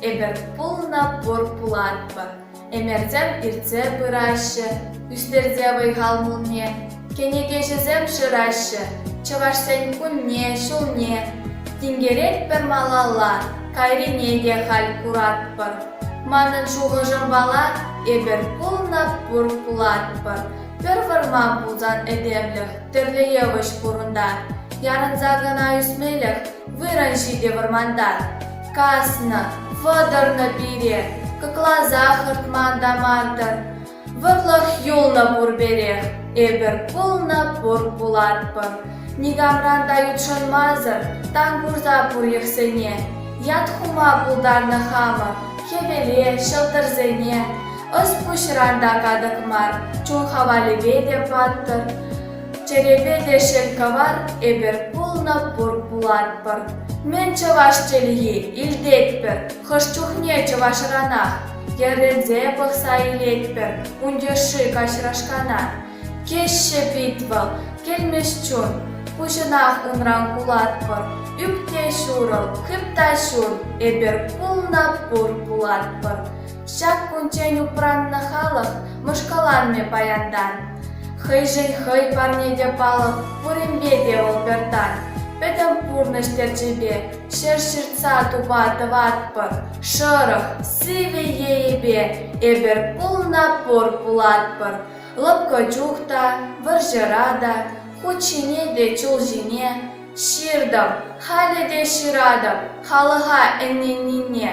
Эпир пулнӑ пур пулатпӑр. Ӗмӗрсем иртсе пыраҫҫӗ, ӳстерсе вӑй-хал пулне кӗнекеҫӗсем шыраҫҫӗ. Чӑвашсен кунне, ҫулне тинкеретпӗр малалла, кайрине те халь куратпӑр. Манӑн шухӑшӑмпала, эпир пулнӑ пур пулатпӑр. Пӗр вӑрман пулсан этемлӗх тӗрлӗ йывӑҫ пурӑнтар. Ярӑнса кӑна ӳсмелӗх вырӑн ҫитӗ вӑрманта. Каснӑ, вӑтӑрнӑ пире, кӑкласа хӑртман та мантӑр. Вӑрлӑх юлнӑ пурперех, эпир пулнӑ пур пулатпӑр. Никамран та ютшӑнмасӑр тан курса пур йӑхсене. Ят хума пултарнӑ хамӑр хӗвеле, ҫӑлтӑрсене. Ӑс-пуҫран та катӑк мар, чун хавалӗпе те паттӑр. Чӗрепе те шел кавар, эпир пулнӑ пур пулатпӑр. Мӗн чӑваш чӗлхи илтетпӗр, хӑш чухне чӑвашранах. Йӗрӗнсе пӑхса илетпӗр ун йышши каҫрашкана. Кӗҫҫе пит вӑл, кӗлмӗҫ чун. Куҫӑнах унран кулатпӑр, ӳпне ҫурӑл, хыпта ҫун. Эпир пулнӑ пур пулатпӑр. Ҫак кунччен упраннӑ халӑх мӑшкӑланмӗ паянтан. Хӑйшӗн хӑй парне те палӑк, пуринпе те вӑл пӗр тан. Пӗтӗм пурнӑҫ терчӗпе ҫӗр ҫыртса тупа тӑватпӑр. Шӑрӑх, сивӗ енӗпе эпир пулна пур пулатпӑр. Лӑпкӑ чух та, вӑрҫӑра та, хут ҫине те чул ҫине ҫыртӑм, халӗ те ҫыратӑп халӑха ӗненнине.